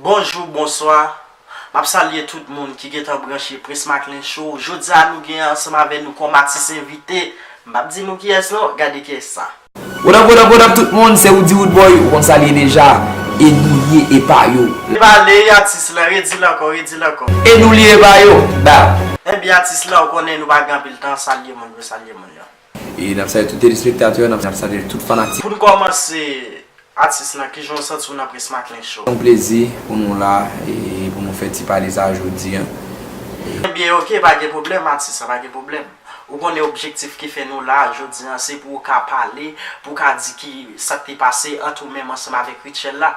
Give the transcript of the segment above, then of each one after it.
Bonjou, bonswa, m ap salye tout moun ki gentan branche Prince Macklin Show. Jodi a nou gen ansanm avè nou kòm atis envite, m p ap di nou kiyès non, gade kiyès sa. What up what up what up tout moun se Roody Roodboy ou konn sa l ye deja e nou lye epa yo. Debale y atis lan, redi l ankò, redi l ankò. E nou lye epa yo, bam. Ebyen atis lan ou konnen nou pa gen anpil tan, salye moun yo, salye moun yo. E nap salye tout telespektatè, nap salye tout fanatik. Poun kòmanse atis lan kijan w santi w nan Prince Macklin Show? Yon plezi pou nou la e pou nou fè ti pale sa jodi an. Ebyen ok pa gen pwoblèm atis lan pa gen pwoblèm. Ou konnen objektif ki fè nou la jodi an se pou ou ka pale, pou w ka di ki sak te pase ant ou menm ansanm avèk Rutshelle la.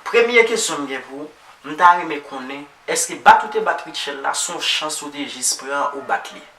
Premye kesyon m gen pou ou, m ta renmen konnen èske bat ou te bat Rutshelle la son chans ou te jis pran ou bat li?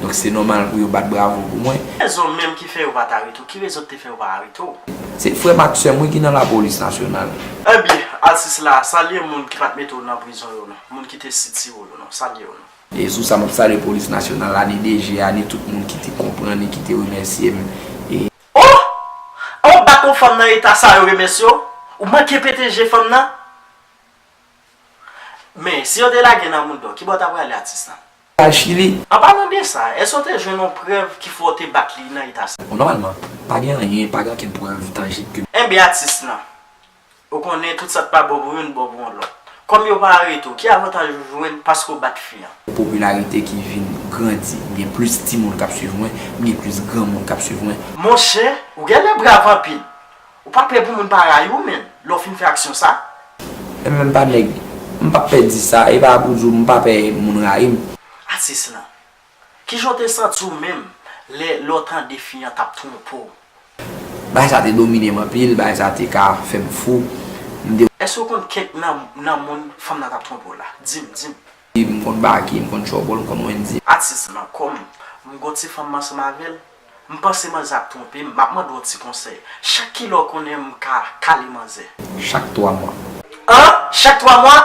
Donk se nòmal pou yo bat bravo pou mwen. Ki rezon menm ki fè yo pa t arete w? Ki rezon ki te fè yo pa arete w? Se frè m ak sè m wi ki nan lapolis nasyonal. Enbyen, atis la, salye moun ki pa t mete w nan prizon yo non. Moun ki te sitire w yo non. Salye yo non. E sou sa, m ap salye polis nasyonal la, ni DG a, ni tout moun ki te konprann e ki te remèsye m. E. Oh! An w bat yon fanm nan eta sa a yo remèsye w? Ou manke pete je fanm nan? Men, si yo te lage nan mouda w, ki bò w ta prale atis la? kay Chili. An palan de sa, èske w te jwenn yon prèv ki fè w te bat li nan eta sa? Bon, nòmalman, pa gen anyen, pa gen okenn prèv tanjib ke. Enben atis lan, ou konnen tout sa k pa bon pou youn bon pou yon lòt. Kòm yo pa arete w, ki avantaj ou jwenn paske w bat fi an? Popilarite ki vin grandi. M gen plis timoun k ap suiv mwen, m gen plis granmoun k ap suiv mwen. Monchè, ou genlè brav anpil. Ou pa pè pou moun pa rayi w menn lè w fin fè aksyon sa? E menm pa nèg. M pap pè di sa, e pa pou di w m pa pè moun rayi m. Atis lan. Kijan w te santi w menm lè lè w tande fi an t ap twonpe w? Bagay sa te domine m anpil, bagay sa te ka fè m fou. M te. Èske w konn kèk nan nan moun fanm nan t ap twonpe w la? Di m, di m. M konn Baky, m konn Trouble, m konn Wendyy. Atis lan. Kòm m gon ti fanm m ansanm avè l, M panse manzè ap twonpe m, m ap mande w yon ti konsèy. Chak ki lè w konnen m ka kale manzè? Chak twa mwa. An! Chak twa mwa?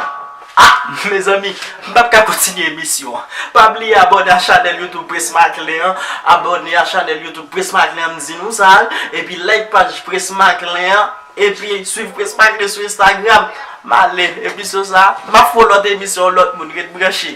Ah! Mezanmi, m pap ka kontinye emisyon an. Pa bliye abòne a chanèl YouTube Presmaclin an, abòne a chanèl YouTube Presmaclin an m di nou sa, epi like paj Presmaclin an, epi swiv Presmaclin sou Instagram. M ale, emisyon sa, m ap fè yon lòt emisyon yon lòt moun, ret branche.